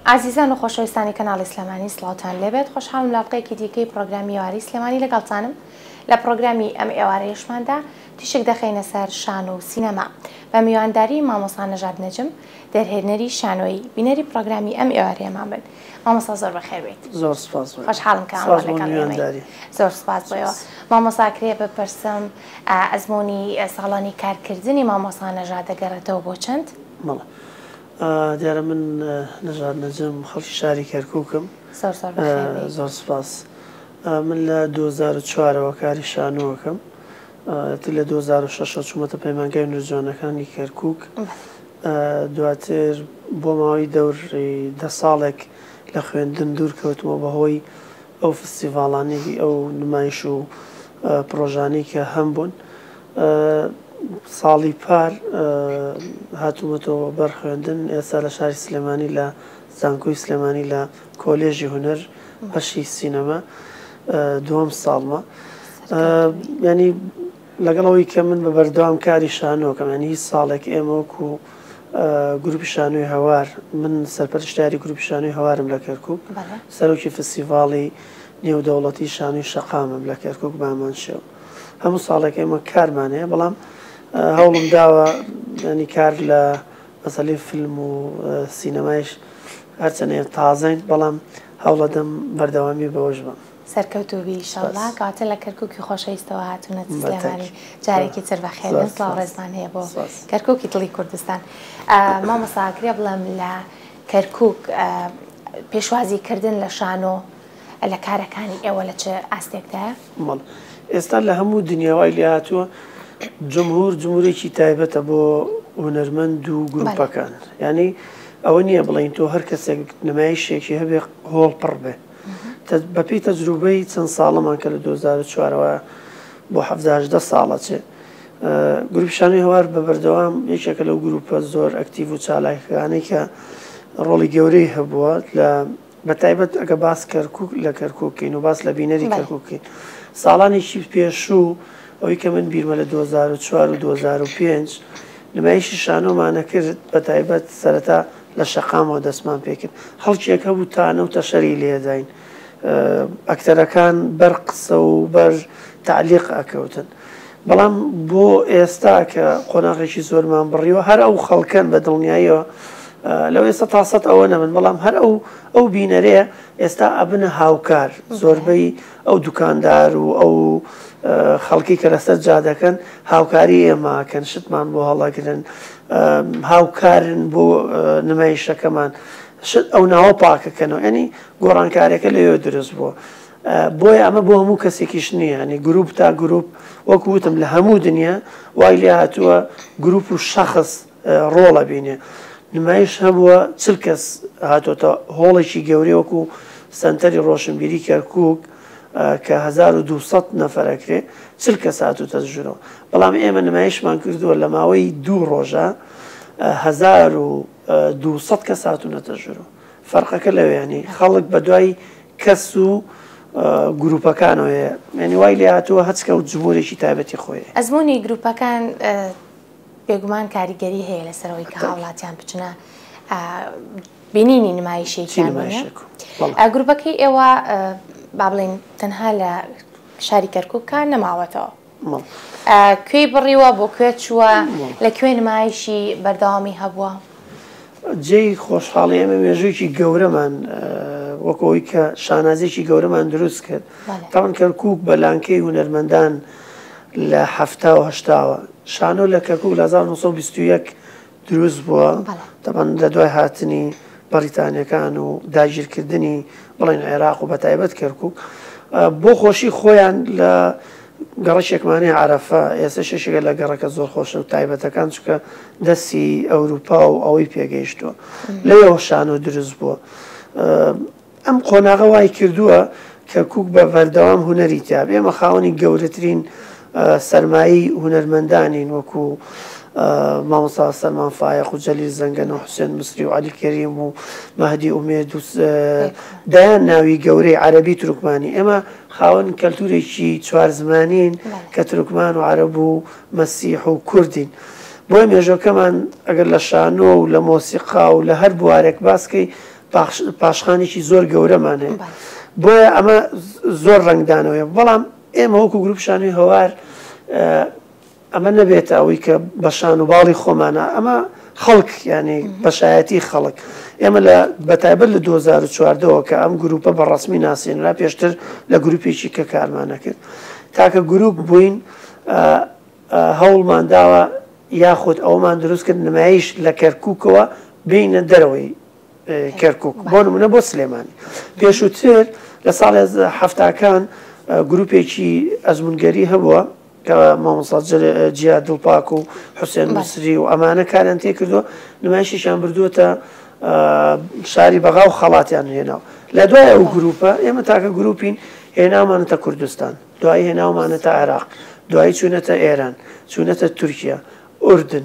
ئازیزان و خۆشەویستانی کەناڵی سلێمانی سڵاوتان لێبێت خۆشحاڵم لە ئەڵقەیەکی دیکەی پڕۆگرامی ئێوارەی سلێمانی لەگەڵتانم لە پڕۆگرامی ئەم ئێوارەیەشماندا تیشک دەخەینە سەر شانۆ و سینەما بە میوانداری مامۆستا نەژاد نەجم دەرهێنەری شانۆیی بینەری پڕۆگرامی ئەم ئێوارەیەمان بن مامۆستا زۆر بەخێر بێیت زۆر سپاس بۆ خۆشحاڵم کە ئەمڕۆ لەگەڵ ئێمەی. زۆر سپاس بۆیەوە مامۆستا کرێ بپرسم ئەزموونی ساڵانی کارکردنی مامۆستا نەژاد دەگەڕێتەوە بۆ چەند؟ بەڵێ دیارە من نەژاد نەجم خەڵکی شاری کەرکوکم. زۆر زۆر بەخێر بێی. زۆر سوپاس. من لە دوو هەزار و چوار ەوە کاری شانۆ ئەکەم. ئیتر لە دوو هەزار و شەش ەوە چوومەتە پەیمانگای هونەر جوانەکانی کەرکوک. دواتر بۆ ماوەی دەوری دە ساڵێک لە خوێندن دوور کەوتمەوە بە هۆی ئەو فستیڤاڵانەی ئەو نمایش و پڕۆژانەی کە هەمبوون. ساڵی پار هاتوومەتەوە بەر خوێندن، ئێستا لە شاری سلێمانی لە زانکۆی سلێمانی لە کۆلێژی هونەر بەشی سینەما دووەم ساڵمە. ینی لەگەڵ ئەوەی کە من بە بەردەوام کاری شانۆکەم ینی هیچ ساڵێک ئێمەوەک و گروپی شانۆی هەوار من سەرپەرشتاری گروپی شانۆی هەوارم لە کەرکک سەرۆکی فسیڤاڵی نێودەوڵەتی شانوی شەقامم لە کەرکک بامان شێو. هەموو ساڵێک ئێمە کارمان هەیە بەڵام هەوڵم داوە ینی کار لە مەسەلی فیلم و سینەمایش هەرچەنێ تازەین بەڵام هەوڵەدەم بەردەوامی بەوەش بم سەرکەوتوبی شڵا کاتە لە کەرککی خۆشەویستەوە هاتوونە سلێمانی جارێکی تر بەخێن سڵاو ڕێزمان هەیە بۆ کەرککی دڵی کوردستان مامەساکرێ بڵم لە کەرکک پێشوازی کردن لە شانۆ لە کارەکانی ئێوە لە چ ئاستێکدایە؟ مل، ئێستا لە هەموو دنیا وای لێ هاتووە جمهور جمهورێکی تایبەتە بۆ هونەرمەند و گروپەکان یانی ئەوە نییە بڵین تۆ هەر کەسێک نمایشێکی هەبێ هۆڵ پڕ بێ بەپی تەجروبەی چەند ساڵەمان کە لە 2004ەوە بۆ هەدە ساڵە چێ گروپشانی هەوار بە بەردەوام یەکێکە لەو گروپە زۆر ئەکتیڤ و چالاکەکانی کە ڕۆڵی گەورەی هەبووە لە بە تایبەت ئەگە باس کەرکک لە کەرککەین و باس لە بینەری کەرککەین ساڵانێکی پێشوو ئەوەی کە من بیرمە لە 2004 و 2005 نمایشی شانۆمانە کرد بە تایبەت سەرەتا لە شەقامەوە دەستمان پێکرد هەڵکێک هەبوو تانە و تەشەری لێداین ئەکتەرەکان بەر قسە و بەر تعلیق ئەکەوتن بەڵام بۆ ئێستا کە قۆناغێکی زۆرمان بڕیوە هەر ئەو خەڵکەن بە دڵنیاییەوە لەو ئێستا تا سەد ئەوە نەبن بەڵام هەر ئەو ئەو بینەرەیە ئێستا ئەبنە هاوکار زۆربەی ئەو دوکاندار و ئەو خەڵکی کە لەسەر جادەکەن هاوکاری ئێماکەن شتمان بۆ هەڵەگرن هاوکارن بۆ نمایشەکەمان شت ئەو ناوە پاکەکەنەوە ینی گۆڕانکارەکە لەوێ دروست بووە. بۆیە ئەمە بۆ هەموو کەسێکیش نییە، یانی گرووپ تا گرووپ، وەکو وتم لە هەموو دنیا وای لێ هاتووە گرووپ و شەخس ڕۆڵ ئەبینێ. نمایش هەبووە چل کەس هاتۆتە هۆڵێکی گەورەی وەکو سەنتەری ڕۆشنبیری کەرکووک کە هەزار و دوو سەد نەفەر ئەکرێ، چل کەس هاتووتە ژوورەوە. بەڵام ئێمە نمایشمان کردووە لە ماوەی دوو ڕۆژە هەزار و دوو سەد کەس هاتوونەتە ژوورەوە. فەرقەکە لەوێ یانی خەڵک بە دوای کەس و گروپەکانەوە یعنی وای لێ هاتووە هەچکە و جمهورێکی تایبەتی خۆی ئەزمموی گروپەکان بێگومان کاریگەری هەیە لەسەرەوەی کە هاوڵاتیان بچنە بینینی نمایشێکی گروپەکەی ئێوە با بڵین تەنها لە شاری کەرککە نەماوەتەوە کوێی بڕیوە بۆ کوێ چووە لە کوێ نمایشی بەردەوامی هەبووە؟ جێی خۆشحاڵی ئێمە مێژوویەکی گەورەمان وەک ئەوەی کە شانازیێکی گەورەمان دروست کرد تاوان کەرکک بە لانکەی هونەرمەندان لە هەفتاوە هەشتاوە شانۆ لە کەرکک لە 1920 دروست بووە تەبەن لە دوای هاتنی بەڕیتانیەکان و داگیرکردنی بڵێن عێراق و بە تایبەت کەرکک بۆ خۆشی خۆیان لە گەڕەشێکمانی عرفە ئێستا شەشێکە لە گەڕەکە زۆر خۆشە و تایبەتەکان چکە دەستی ئەوروپا و ئەوەی پێگەیشتووە لەەوە شان و دروست بووە ئەم قۆناغە وای کردووە کە کوک بە بەردەوام هونەری تیاب، ئێمە خاوەنی گەورەترین سەرمایەی هونەرمەندانین وەکو مامۆستا سەلمان فایەق و جەلیل زەنگەنە و حوسێن مسری و عەلی کەریم و مەهدی ئومێد و دایان ناوی گەورەی عەربی ترکمانی ئێمە خاوەن کەلتورێکی چوار زمانین کە ترکمان و عەرب و مەسیح و کوردین. بۆی مێژۆکەمان ئەگەر لە شانۆ و لە مۆسیقا و لە هەر بوارێک باسکەی پاشخانێکی زۆر گەورەمان هەیە بۆیە ئەمە زۆر ڕنگدانەوەە بەڵام ئێمە وەکو گروپشانی هەوار ئەمە نەبێت ئەوەی کە بەشان و باڵی خۆمانە ئەمە خەڵک ینی بەشایەتی خەڵک ئێمە لە بەتایبەت لە 2014ەوە کە ئەم گروپە بە ڕسمی ناسیێنرا پێشتر لە گروپێکی کە کارمانە کرد تاکە گروپ بووین هەوڵمانداوە یاخود ئەومان دروست کرد نمایش لە کەرککەوە بینە دەرەوەی کەرکوک بۆ نمونە بۆ سلێمانی پێشووتر لە ساڵ هەفتاکان گروپێکی ئەزمونگەری هەبووە کە مامۆسا جیا دڵپاک و حوسێن مسری و ئەمانە کاریان تێ کردو نمایشیشان بردووەتە شاری بەغا و خەڵاتیان هێناوە لە دوای ئەو گروپە ئێمە تاکە گروپین هێناومانەتە کوردستان دوای هێناومانەتە عێراق دوایی چوونەتە ئێران چوونەتە تورکیا ئوردن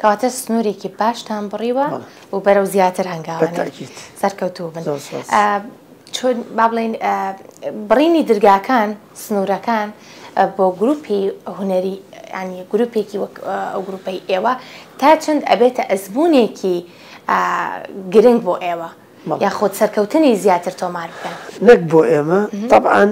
کەواتە سنورێکی باشتان بڕیوە و بەرەو زیاتر هەنگاوانێ سەرکەوتوو بن چۆن با بڵین بڕینی درگاکان سنوورەکان بۆ گروپی هوەری ینی گروپێکی وەک ئەو گروپەی ئێوە تا چەند ئەبێتە ئەزمونێکی گرنگ بۆ ئێوە یاخود سەرکەوتنی زیاتر تۆمار بکەن. نەک بۆ ئێمە تەبعەن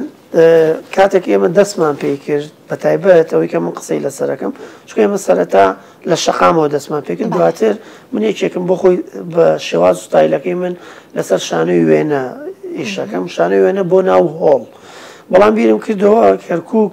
کاتێک ئێمە دەستمان پێی کرد بە تایبەت ئەوەی کە من قسەی لەسەرەکەم چکە ئێمە سەرەتا لە شەقامەوە دەستمان پێ کرد دواتر من یەکێکم بۆ خۆی بە شێواز ستایلەکەی من لەسەر شانەی وێنە ئیشەکەم شانەی وێنە بۆ ناو هۆڵ بەڵام بیرم کردەوە کەرکک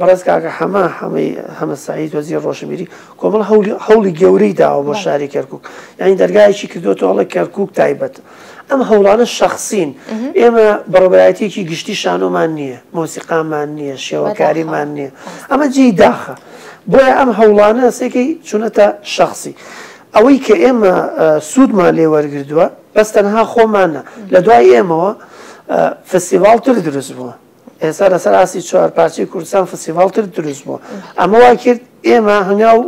بەڕێز کاکە حەمە حەمەی حەمە سەعید وەزیر ڕۆشنبیری کۆمەڵ هەولی هەوڵی گەورەی داوە بۆ شاری کەرکک یعنی دەرگایەکی کردوەوە هەڵە کەرکک تایبەت ئەم هەوڵانە شخصین ئێمە بەڕبایەتێکی گشتی شانۆمان نییە مۆسیقامان نییە شێوەکاریمان نییە ئەمە جێی داخە بۆیە ئەم هەوڵانە سێکەی چونەتە شخصی ئەوەی کە ئێمە سوودمان لێ وەرگردووە بەس تەنها خۆمانە لە دوای ئێمەوە فستیڤالتر دروست بووە ئێستا لەسەر ئاستی چوار پارچەی کوردستان فستیڤاڵ تر دروست بووە ئەمە وا کرد ئێمە هەنگاو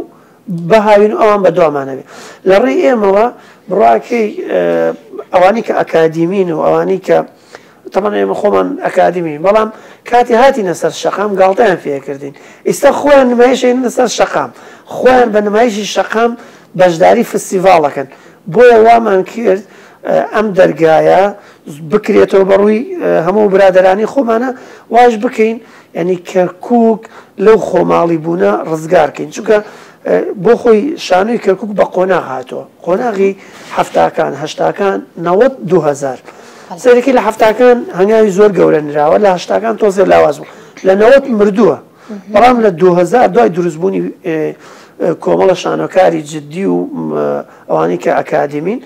بهاوین و ئەوان بە دوامانەوێت لە ڕێی ئێمەوە بڕاکەی ئەوانی کە ئەکادیمین و ئەوانی کە تەمان ئێمە خۆمان ئەکادیمین بەڵام کاتی هاتی نەسەر شەقام گاڵتەیان فێکردین ئیستا خۆیان نمایشین لەسەر شەقام خۆیان بە نمایشی شەقام بەشداری فستیڤاڵەکەن بۆیە وامان کرد ئەم دەرگایە بکرێتەوە بەڕووی هەموو برادەرانی خۆمانە واش بکەین ینی کەرکک لەو خۆماڵی بوونە ڕزگارکەین چونکە بۆ خۆی شانۆی کەرکک بە قۆنا هاتووە قۆناغی هەفتاکان هەشتاکان نەوەت دوهزار سەرەکی لە هەفتاکان هەنگاوی زۆر گەورە نراوە لە هەشتاکان تۆزێ لاواز بوو لە نەوەت مردووە بەڵام لە دوو هەزار دوای دروستبوونی کۆمەڵە شانۆکاری جددی و ئەوانەی کە ئەکادیمین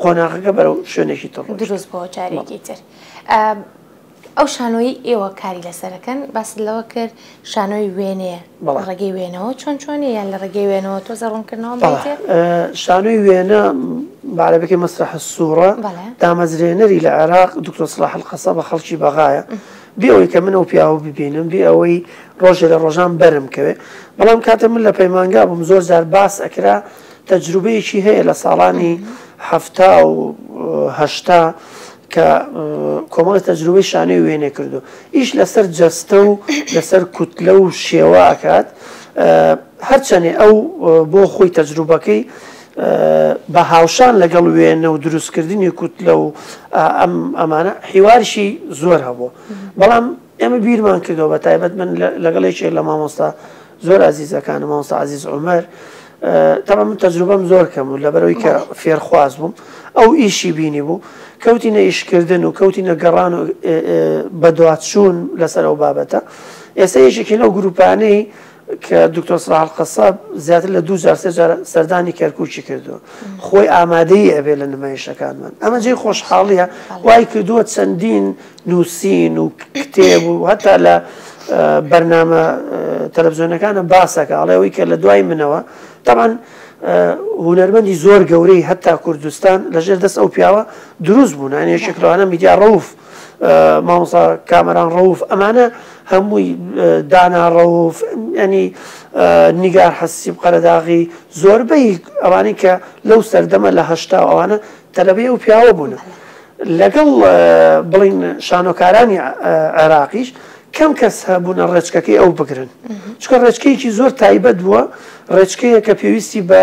قۆناغەکە بەرەو شوێنێکی تڕ دروست بۆ جارێکی تر. ئەو شانۆی ئێوە کاری لەسەرەکەن باس لەوە کرد شانۆی وێنێ ڕێگەی وێنەوە چۆن چۆنی یان لە ڕێگەی وێنەوە تۆ زەڕونکردنەوە شانۆی وێنە بارەبەکەی مەسرح سوورە دامەزرێنەری لە عێراق دکتۆ سلاح قەسە بە خەڵکی بەغاە بێ ئەوەی کە من ئەو پیاوە ببینم، بێ ئەوەی ڕۆژێ لە ڕۆژان بەرم کەوێ. بەڵام کاتێ من لە پەیمانگا بووم زۆر جار باس ئەکرا، تەجروبەیەکی هەیە لە ساڵانی حەفتا و هەشتا کە کۆمەڵێ تەجروبەی شانۆی وێنێ کردو ئیش لەسەر جەستە و لەسەر کوتلە و شێوە ئەکات. هەرچەنێ ئەو بۆ خۆی تەجروبەکەی بە هاوشان لەگەڵ وێنە و دروستکردنی کوتلە و ئەمانە حیوارشی زۆر هەبوو بەڵام ئێمە بیرمان کردەوە بە تایبەت من لەگەڵ یەکێک لە مامۆستا زۆر ئازیزەکان مامۆستا عزیز عمر تەمە من تەجروبەم زۆر کەم و لەبەرەوەی کە فێرخواز بووم ئەو ئیشی بینی بوو کەوتینە ئیشکردن و کەوتینە گەڕان و بەدواتچوون لەسەر ئەو بابەتە ئێستا یەکێکی لەو گروپانەی کە دکتۆر سەلاح القەساب زیاتر لە دوو جار سێ جار سەردانی کەرکووکی کردووە خۆی ئامادەی ئەبێ لە نمایشەکانمان ئەمە جێی خۆشحاڵیە وای کردووە چەندین نووسین و کتێب و هەتا لە بەرنامە تەلەڤزیۆنەکانە باسەکە ئەڵێەوەی کە لە دوای منەوە تاوان هوەرمەندی زۆر گەورەی هەتا کوردستان لەژێر دەست ئەو پیاوە دروست بوون هەنێ شکلوانە میدیا ڕوف مامۆسا کامەران ڕەوف ئەمانە هەمووی دانا ڕەوف ینی نیگار حەسیب قەرەداغی زۆربەی ئەوانەی کە لەو سەردەمە لە هەشتا ئەوانە تەلەبەی ئەو پیاوە بوون لەگەڵ بڵین شانۆکارانی عێراقیش کەم کەس هەبوونە ڕێچکەکەی ئەو بگرن چکە ڕێچکەیەکی زۆر تایبەت بووە ڕێچکەیە کە پێویستی بە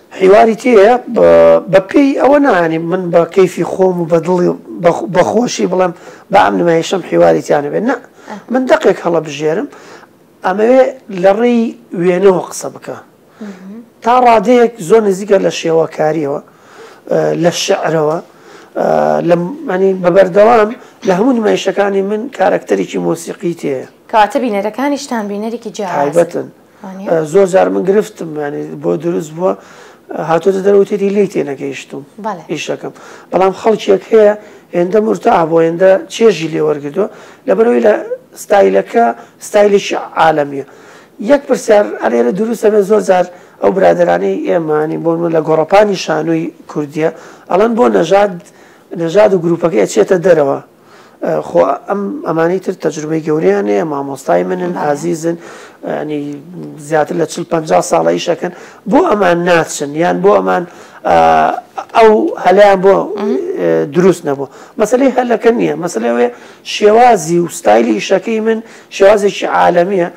حیواری تێیە بە پێی ئەوە نا یانی من بە کەیفی خۆم و بە دڵی بە خۆشی بڵێم با ئەم نمایشەم حیواری تیا نەبێت نا من دەقێک هەڵە بژێرم ئەمەوێ لە ڕێی وێنەوە قسە بکە تا ڕادەیەک زۆر نزیکە لە شێوەکاریەوە لە شعرەوە لەمانی بەبەردەوام لە هەموو نمایشەکانی من کارەکتەرێکی مۆسیقی تێ کاتە بینەرەکانیشتان بینەرێکی جیابەتن زۆر جار من گرفتم ینی بۆ دروست بووە هاتۆتە دەروتێتی لی تێ نەگەیشتوم ئیشەکەم بەڵام خەڵکێک هەیە هێندە مرتا بۆ هێندە چێژی لێوەرگدووە لەبەرەوەی لە ستایلەکە ستایلێکی عاالمیە یەک پرسیار ئەرێرە دروستە بێ زۆر جار ئەو برادرانی ئێمانی بۆ من لە گۆڕپانی شانووی کوردیە ئەڵەن بۆ نەژاد نەژاد و گروپەکە ئەچێتە دەرەوە خۆ ئەم ئەمانی تر تەجروبەی گەوریان هەیە مامۆستای منن ئازیزن ینی زیاتر لە چل پ ساڵە ئیشەکەن بۆ ئەمان ناچن یان بۆ ئەمان ئەو هەلیان بۆ دروست نەبوو مەسلەی هەلەکە نییە مەسلەوەێ شێوازی و ستایلی ئیشەکەی من شێوازێکی عاالمیە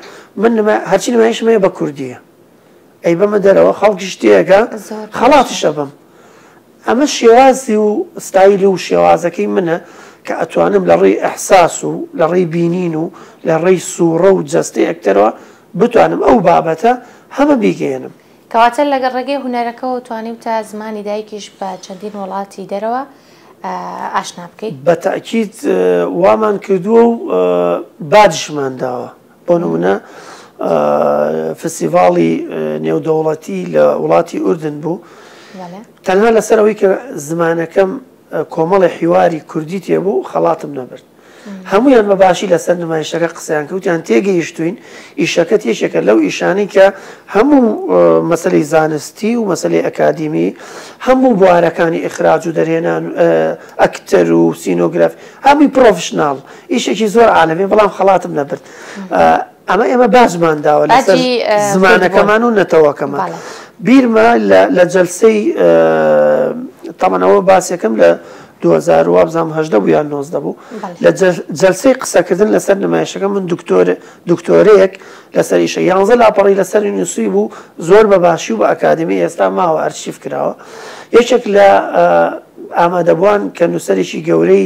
من هەرچی نمایشمەیە بە کوردیە ئەیبەمە دەرەوە خەڵکیش تێئەگا خەڵاتیش ئەبەم. ئەمە شێوازی و ستایل و شێوازەکەی منە کە ئەتوانم لە ڕێی ئیحساس و لە ڕێی بینین و لە ڕێی سووڕە و جەستەی ئەکتەرەوە بتوانم ئەو بابەتە هەمە بیگەیەنم. کەواتە لە ڕێگەی هونەرەکەوە توانیوتە زمانی دایکیش بە چەندین وڵاتی دەرەوە ئاشنا بکەی؟ بە تەئکید وامان کردووە و باجیشمان داوە. بۆ نموونە فستیڤاڵی نێودەوڵەتی لە وڵاتی ئوردن بوو تەنها لەسەر ئەوەی کە زمانەکەم کۆمەڵی حیواری کوردی تێبوو خەڵاتم نەبرد هەمویان بە باشی لەسەر نمایشەکە قسەیان کەوتیان تێگەیشتوین ئیشەکەت یەکێکە لەو ئیشانی کە هەموو مەسلی زانستی و مەسلی ئەکادیمی هەموو بوارەکانی ئخراج و دەرهێنان ئەکتەر و سینۆگرف هەمووی پرۆفشنناڵ ئیشێکی زۆر عالەمی بەڵام خەڵاتم نەبرد ئەمە ئێمە باسمان داوە لە زمانەکەمان و نەتەوەکەمان بیرمە لە جەلسەی تەمەەوە باسەکەم لە 2010 بوو یان 90 بوو لە جەلسەی قسەکردن لەسەر نمایشەکە من دکتۆر دکتۆرەیەک لەسەر ئیشە یانزە لاپەڕی لەسەر نووسی بوو زۆر بە باشی و بە ئەکادمی ئێستا ماوە ئەرشیف کراوە یەکێک لە ئامادەبووان کە نووسەرێکی گەورەی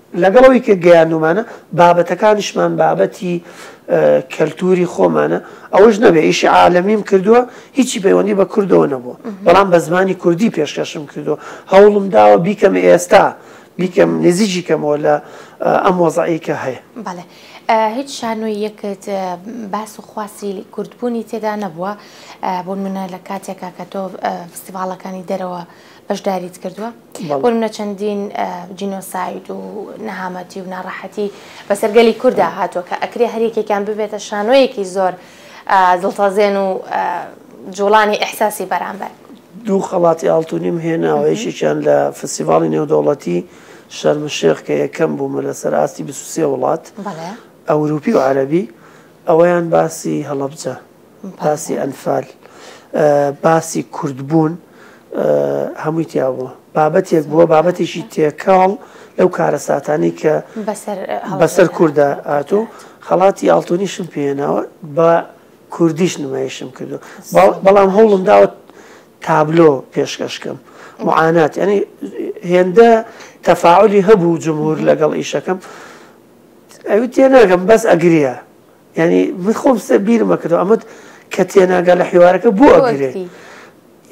لەگەڵ ئەوەی کە گەیاندومانە بابەتەکانیشمان بابەتی کەلتوری خۆمانە ئەوەش نەبێ ئیشی عالەمیم کردووە هیچی پەیوەندی بە کوردەوە نەبووە بەڵام بە زمانی کوردی پێشکەشم کردووە هەوڵم داوە بیکەم ئێستا بیکەم نزیجی کەمەوە لە ئەم وەزعی کە هەیە بەڵێ هیچ شانۆی یەکت باس و خواسی کوردبوونی تێدا نەبووە بۆ منە لە کاتێکا کە تۆ فستیڤالەکانی دەرەوە بەشداریت کردووە بۆمە چەندین جینۆساید و نەهامەتی و ناڕەحەتی بەسەر گەلی کووردا هاتووە کە ئەکرێ هەریەکێکیان ببێتە شانۆیەکی زۆر دڵتەزێن و جوڵانی ئەحساسی بەرامبەر دوو خەڵاتی ئاڵتونیم هێناوە یشێکیان لە فسیڤاڵی نێودەوڵەتی شەرمشێخ کە یەکەم بوومە لەسەر ئاستی بسوسێ وڵات ئەوروپی و عەربی ئەوەیان باسی هەڵەبجە باسی ئەنفال باسی کوردبوون هەمووی تیا بووە بابەتێک بووە بابەتێکی تێکەڵ لەو کارەساتانی کە بەسەر کووردا هاتو خەڵاتی ئاڵتونیشم پێێناوە بە کوردیش نمایشم کردو بەڵام هەوڵم داوە تابلۆ پێشکەشکەم معانات ینی هێندە تەفاعلی هەبوو جمهور لەگەڵ ئیشەکەم ئەوی تێناگەم بەس ئەگرە یانی من خۆم سێ بیرمە کردو ئەمەت کە تێناگە لە حیوارەکە بۆ ئەگرێ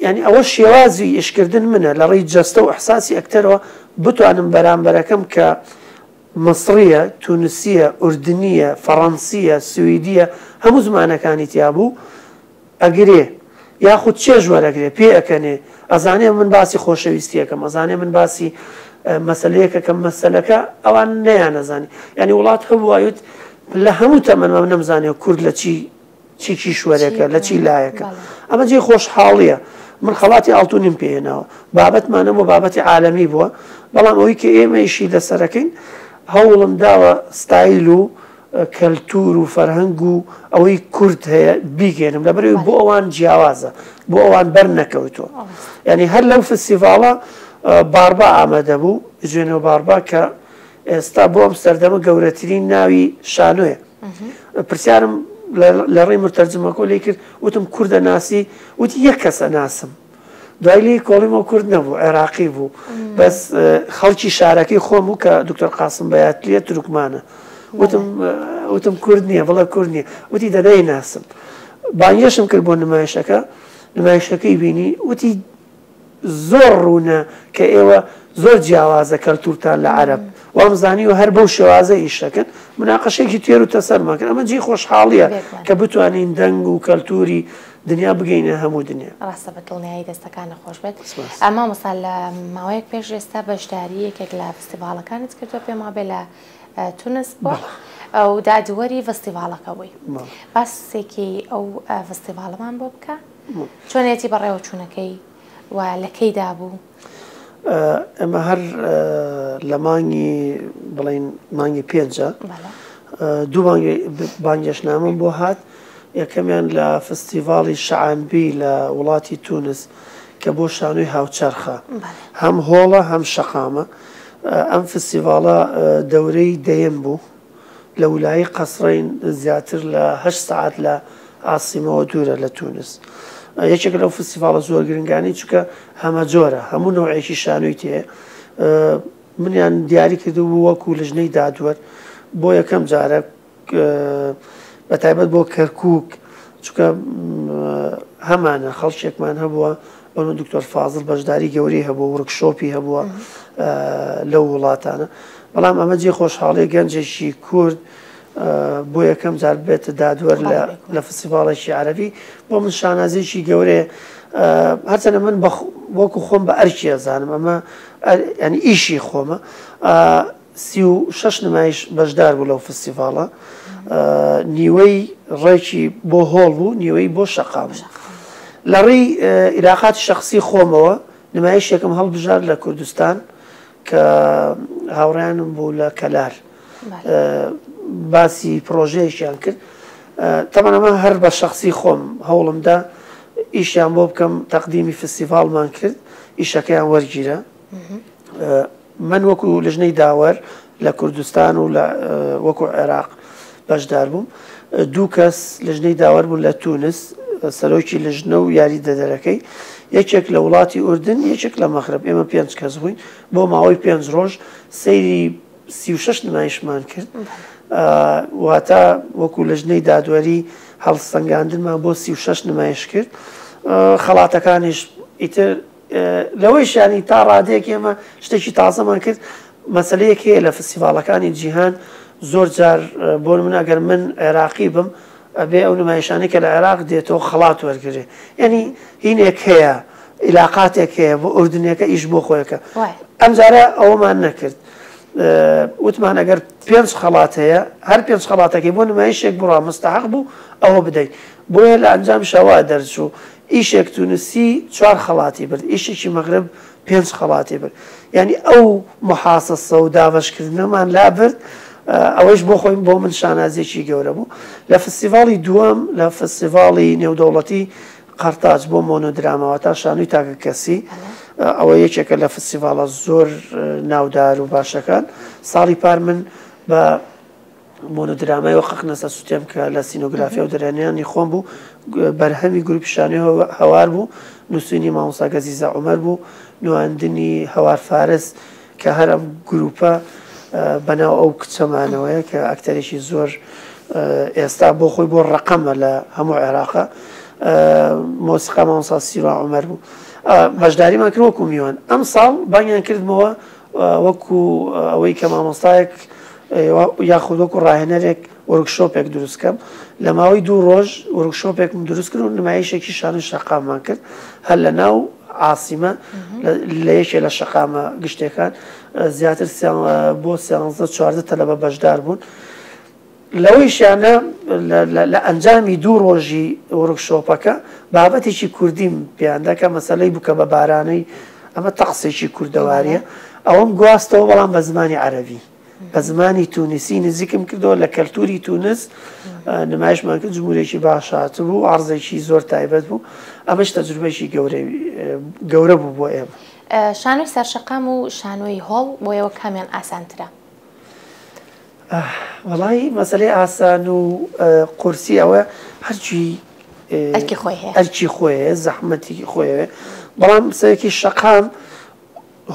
یعنی ئەوە شێوازی ئشکردن منە لە ڕێی جەستە و ئەحساسی ئەکتەرەوە بتوانم بەرامبەرەکەم کە مەسڕە تونسیە ئوردنیە فەڕەنسیە سوئدیە هەموو زمانەکانی تیابوو ئەگرێ یاخود چێژ وەرەگرێ پێ ئەکەنێ ئەزانێ من باسی خۆشەویستی ئەکەم ئەزانێ من باسی مەسەلەیەک ئەکەم مەسەلەکە ئەوان نەیانەزانی یانی وڵات هەبوو ئەوت لە هەموو تەمەنمە نەمزانێ کورد لە چی چی کیشوەرێکە لە چی لایەکە ئەمە جێ خۆشحاڵیە من خەڵاتی ئاڵتونیم پێێنەوە بابەتمانە بۆ بابەتی عالەمی بووە بەڵام ئەوی کە ئێمەیشی لەسەرەکەین هەوڵم داوە ستایل و کەلتور و فەرهەنگ و ئەوەی کورد هەیە بیگەێنم لەبەرەوەی بۆ ئەوان جیاوازە بۆ ئەوان بەر نەکەوتووە ینی هەر لەو فسیڤاڵە باربا ئامادە بوو جوێنەوە باربا کە ئێستا بۆ ئەم سەردەمە گەورەترین ناوی شانۆیە پرسیارم لە ڕێی مرتەرجمەکۆ لی کرد وتم کوردە ناسی وتی یەک کەسە ناسم دوای لێی کۆڵیمەوە کورد نەبوو عێراقی بوو بەس خەڵکی شارەکەی خۆم و کە دکتۆر قاسم بەاتلیە ترکمانە وتم وتم کورد نییە بڵە کورد نیە وتی دەنای ناسم بانگێشم کرد بۆ نمایشەکە نمایشەکەی بینی وتی زۆر ڕوونە کە ئێوە زۆر جیاوازە کەلتورتان لە عرب وامزانی و هەر بەو شێوازە ئیشەکەن مناقەشێکی تێر و تەسەرمەکەن ئەمە جی خۆشحاڵیە کە بتوانین دەنگ و کەلتوری دنیا بگەینە هەموو دنیا. ڕاستە بە دڵنیایی دەستەکانت خۆش بێت سپاس. ئە مامۆستا لە ماوەیەک پێش ئێستا بەشداری یەکێک لە فستیڤاڵەکانت کردووە پێم وابێ لە تونس بووە بەڵێ. و دادوەری ڤستیڤاڵەکە بووی بەڵێ. باسێکی ئەو ڤستیڤاڵەمان بۆ بکە مم. چۆنێتی بەڕێوەچوونەکەی و لە کەیدا بوو؟ ئێمە هەر لە مانگی بڵین مانگی پێنجە دوو بانگێشنامەم بۆ هات یەکەمیان لە فستیڤاڵی شعانبی لە وڵاتی تونس کە بۆ شانوی هاوچەرخە هەم هۆڵە هەم شەقامە ئەم فستیڤاڵە دەورەی دەیەم بوو لە ولایەی قەسرەین زیاتر لە هەشت سەعات لە عاسیمەوە دوورە لە تونس یەکێک لەو فستیڤاڵە زۆر گرنگانی چونکە هەمە جۆرە هەموو نەوعێکی شانۆی تێ منیان دیاری کردو بوو وەکو لژنەی دادوەر بۆ یەکەم جارە بە تایبەت بۆ کەرکک چونکە هەمانە خەڵکێکمان هەبووە بەرو دکتۆر فازڵ بەشداری گەورەی هەبووە ورک شۆپی هەبووە لەو وڵاتانە بەڵام ئەمە جێ خۆشحاڵی گەنجێکی کورد بۆ یەکەم جار بێتە دادوەر لە فسیڤاڵێکی عەربی بۆ من شانازێکی گەورەیە هەرچەنە من وەکو خۆم بە ئەرکی ئەزانم ئەمە ینی ئیشی خۆمە سی و شەش نمایش بەشدار بوو لەو فستیڤاڵە، نیوەی ڕێکی بۆ هۆڵ بوو نیوەی بۆ شەقام بوو. لە ڕیی ئیلاقاتی شەخسی خۆمەوە نمایشێکم هەڵبژارد لە کوردستان کە هاوڕێیانم بوو لە کەلار باسی پڕۆژەیەکیان کرد تەبەن ئەمە هەر بە شەخسی خۆم هەوڵمدا ئیشیان بۆ بکەم تەقدیمی فستیڤاڵمان کرد ئیشەکەیان وەرگیرا. من وەکو لژنەی داوەر لە کوردستان و لە وەکو عێراق بەشدار بووم دوو کەس لژنەی داوەر بوون لە تونس سەرۆکی لژنە و یاری دەدەرەکەی یەکێک لە وڵاتی ئوردن یەکێک لە مەخرب ئێمە پێنج کەس بووین بۆ ماوەی پێنج ڕۆژ سەیری سی شش نمایشمان کرد واتە وەکو لژنەی دادوەری هەڵسەنگاندنمان بۆ سی شش نمایش کرد خەڵاتەکانیش ئیتر لەوەیش یانی تا ڕادەیەک ئێمە شتێکی تازەمان کرد، مەسەلەیەک هەیە لە فستیڤاڵەکانی جیهان زۆر جار بۆ نموونە گەر من عێراقی بم ئەبێ ئەو نمایشانەی کە لە عێراق دێتەوە خەڵات وەرگرێ یانی هینێک هەیە عیلاقاتێک هەیە بۆ ئوردنیەکە ئیش بۆ خۆیەکە ئەمجارە ئەوەمان نەکرد وتمان ئەگەر پێنج خەڵات هەیە هەر پێنج خەڵاتەکەی بۆ نمایشێک بڕا مستحق بوو ئەوە بدەیت بۆیە لە ئەنجام شەوا دەرچوو ئیشێک تونسی چوار خەڵاتی برد ئیشێکی مەغرب پێنج خەڵاتی برد یانی ئەو محاسەسە و دابەشکردنەمان لا برد ئەوەیش بۆ خۆی بۆ من شانازیێکی گەورە بوو لە فستیڤاڵی دووەم لە فستیڤاڵی نێودەوڵەتی قەرتاج بۆ مۆنۆدرامەوە تا شانوی تاکە کەسی ئەوە یەکێکە لە فستیڤاڵە زۆر ناودار و باشەکان ساڵی پار من بە مۆنۆدرامای وەققنە سەر سوتێم کە لە سینۆگرافیا و دەرهێنانی خۆم بوو، بەرهەمی گروپی شانۆی هەوار بوو، نووسینی مامۆستا گەزیزە عومەر بوو، نواندنی هەوار فارس، کە هەر ئەم گروپە بەناو ئەو کچەمانەوەیە کە ئەکتەرێکی زۆر ئێستا بۆ خۆی بۆ ڕەقەمە لە هەموو عێراقە مۆسیقا مامۆستا سیروا عومەر بوو. بەشداریمان کرد وەکو میوان ئەمساڵ بانگیان کردمەوە وەکو ئەوەی کە مامۆستایەک یاخود وەکو ڕاهێنەرێک وۆرکشۆپێک دروست کەم لە ماوەی دوو ڕۆژ وەرکشۆپێکم دروست کرد و نمایشێکی شانۆی شەقاممان کرد هەر لە ناو عاسیمە لە یەکێ لە شەقامە گشتەکان زیاتر بۆ سیانزە چواردە تەلەبە بەشدار بوون لەوەیشا نە لە ئەنجامی دوو ڕۆژی وۆرک شۆپەکە بابەتێکی کوردیم پێیان دا کە مەسەلەی بووکە بە بارانەی، ئەمە تەقسێکی کوردەوارییە، ئەوەم گواستەوە بەڵام بە زمانی عەرەبی، بە زمانی تونسی نزیکم کردەوە لە کەلتوری تونس نمایشمان کرد جمهورێکی باش هاتبوو عەڕزێکی زۆر تایبەت بوو، ئەمەش تەجروبەیەکی گەورەی گەورە بوو بۆ ئێمە. شانۆی سەرشەقام و شانۆی هۆڵ بۆ ئێوە کامیان ئاسانترە؟ ئاه وەڵای مەسەلەی ئاسان و قورسی ئەوە هەرچی ئەرکی خۆی هەیە ئەرکی خۆیە زەحمەتێکی خۆیەوێ بەڵام سەرەکی شەقام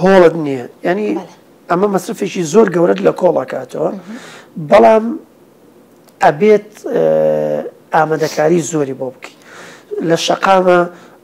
هۆڵت نییە ینی بەڵێ. ئەمە مەسرفێکی زۆر گەورەت لە کۆڵەکاتەوە بەڵام ئەبێت ئامادەکاری زۆری بۆ بکەیت لە شەقامە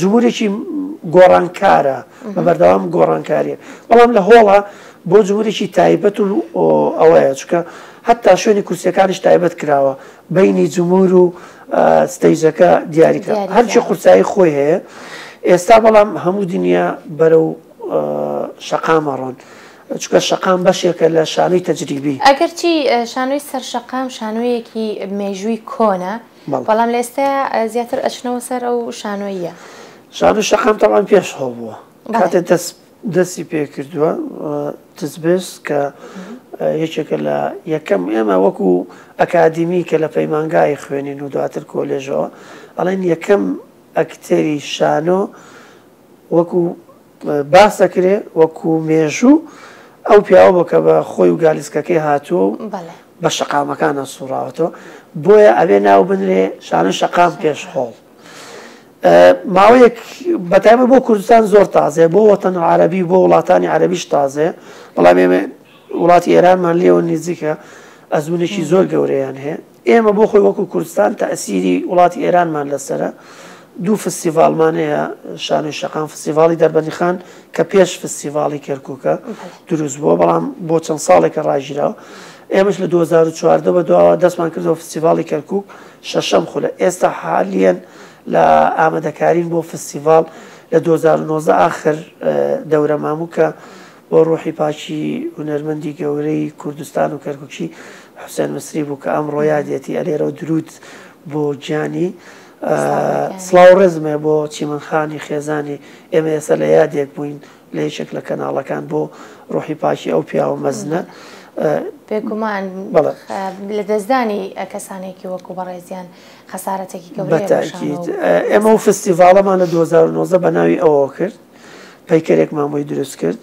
جمهورێکی گۆڕانکارە بە بەردەوام گۆڕانکاریە بەڵام لە هۆڵە بۆ جمهورێکی تایبەت و ئەوەیە چکە هەتا شوێنی کورسەکانش تایبەت کراوە بینی جمهور و ستەیجەکە دیاریکە هەرچی قورسایی خۆی هەیە ئێستا بەڵام هەموو دنیا بەرە و شەقامەڕۆن. چکە شەقام بەشێکە لە شانوی تەجریبی ئەگەرچی شانوی سەر شەقام شانویەکی مێژووی کۆنە بەڵام لە ئێستایا زیاتر ئەچنەوە سەر ئەو شانۆییە. شانۆی شەقام تەبعەن پێش هەو بووە کاتێ دەست دەستی پێکردووە تزبێس کە یەکێکە لە یەکەم ئێمە وەکو ئەکادیمی کە لە پەیمانگای خوێنین و دواتر کۆلێژەوە ئەڵێن یەکەم ئەکتەری شانۆ وەکو باس دەکرێ وەکو مێژوو ئەو پیاوە بۆ کە بە خۆی و گالیسکەکەی هاتووە و بە شەقامەکانە سوڕاوەتەوە بۆیە ئەبێ ناو بنرێ شانە شەقام پێش خۆڵ ماوەیەک بەتایمە بۆ کوردستان زۆر تازێ بۆ وەتەن عربی بۆ وڵاتانی عربیش تازێ بەڵام ئێمە وڵاتی ئێرانمان لێەوە نزیکە ئەزمونێکی زۆر گەورەیان هەیە ئێمە بۆ خۆی وەکو کوردستان تەئسیری وڵاتی ئێرانمان لەسەرە، دوو فستیڤاڵمان هەیە، شانۆی شەقام فستیڤاڵی دەربەندیخان کە پێش فستیڤاڵی کەرکووکە دروست بووە، بەڵام بۆ چەند ساڵێکە ڕاگیراوە. ئێمەش لە دوو هەزار و چواردە بە دواوە دەستمان کردەوە فستیڤاڵی کەرکووک شەشەم خولە، ئێستا حالیەن لە ئامادەکارین بۆ فستیڤاڵ لە دوو هەزار و نۆزدە ئاخر دەورەماموو کە بۆ ڕوحی پاکی هونەرمەندی گەورەی کوردستان و کەرکوکی حوسێن مسری بوو کە ئەمڕۆ یادیەتی ئەلێرەو دروود بۆ گیانی سڵاو ڕێزم هەیە بۆ چیمەن خانی خێزانی ئێمە ئێستا لە یادێک بووین لە یەکێک لە کەناڵەکان بۆ ڕوحی پاکی ئەو پیاوە مەزنە بێگومان لە دەستدانی کەسانێکی وەکو بەڕێزیان خەسارەتێکی گەورە ئێمە و فستیڤاڵەمان لە 2009 بە ناوی ئەوە کرد پەیکەرێکمان بۆی دروست کرد،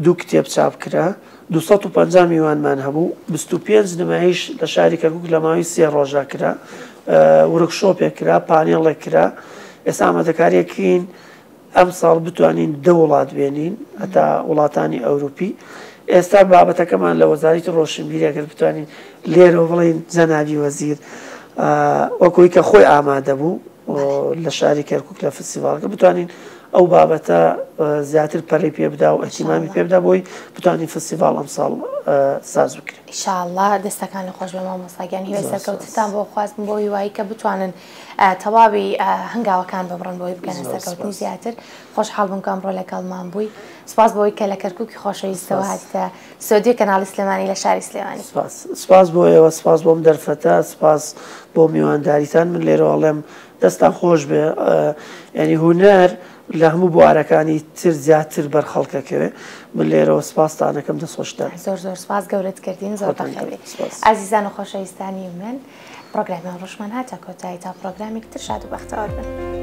دوو کتێب چاپ کرا، دوو سەد و پەنجا میوانمان هەبوو، بیست و پێنج نمایش لە شاری کەرکووک لە ماوەی سێ ڕۆژدا کرا، ورکشۆپێک کرا، پانێڵێک کرا، ئێستا ئامادەکارییەکەین ئەمساڵ بتوانین دە وڵات بێنین هەتا وڵاتانی ئەوروپی. ئێستا بابەتەکەمان لە وەزارەتی ڕۆشنبیری ئەگەر بتوانین لێرەوە بڵێین جەنابی وەزیر وەک ئەوەی کە خۆی ئامادە بوو لە شاری کەرکووک لە فستیڤاڵەکە بتوانین ئەو بابەتە زیاتر پەرەی پێ بدا و ئەتیمامی پێ بدا بۆی بتوانین فستیڤال ئەمساڵ ساز بکرێن ئیشاءاللە دەستەکان خۆش بە مامۆستاگیان هیوای سەرکەوتتان بۆ خوازم بۆ هیوایی کە بتوانن تەواوی هەنگاوەکان ببڕن بۆی بگەنە سەرکەوتنی زیاتر خۆشحاڵ بووم کەم ڕۆ لەگەڵمان بووی سپاس بۆی کە لە کەرکووکی خۆشەویستەوە هاتە سۆدیو کەناڵی سلێمانی لە شاری سلێمانی سپاس بۆ ئێوە سپاس بۆم دەرفەتە سپاس بۆ میوانداریتان من لێرەواڵێم دەستتان خۆش بێ یانی هونەر لە هەموو بوارەکانی تر زیاتر بەر خەڵکەکەوێ من لێرەوە سپاستانەکەم دەست خۆشتان زۆر زۆر سپاس گەورەت کردین زۆر خۆتان بەخێر بێت سپاس. ئازیزان و خۆشەویستانی من پڕۆگرامی ئەمڕۆشمان هاتە کۆتایی تا پڕۆگرامێکی تر شاد و بەختەوەر بن.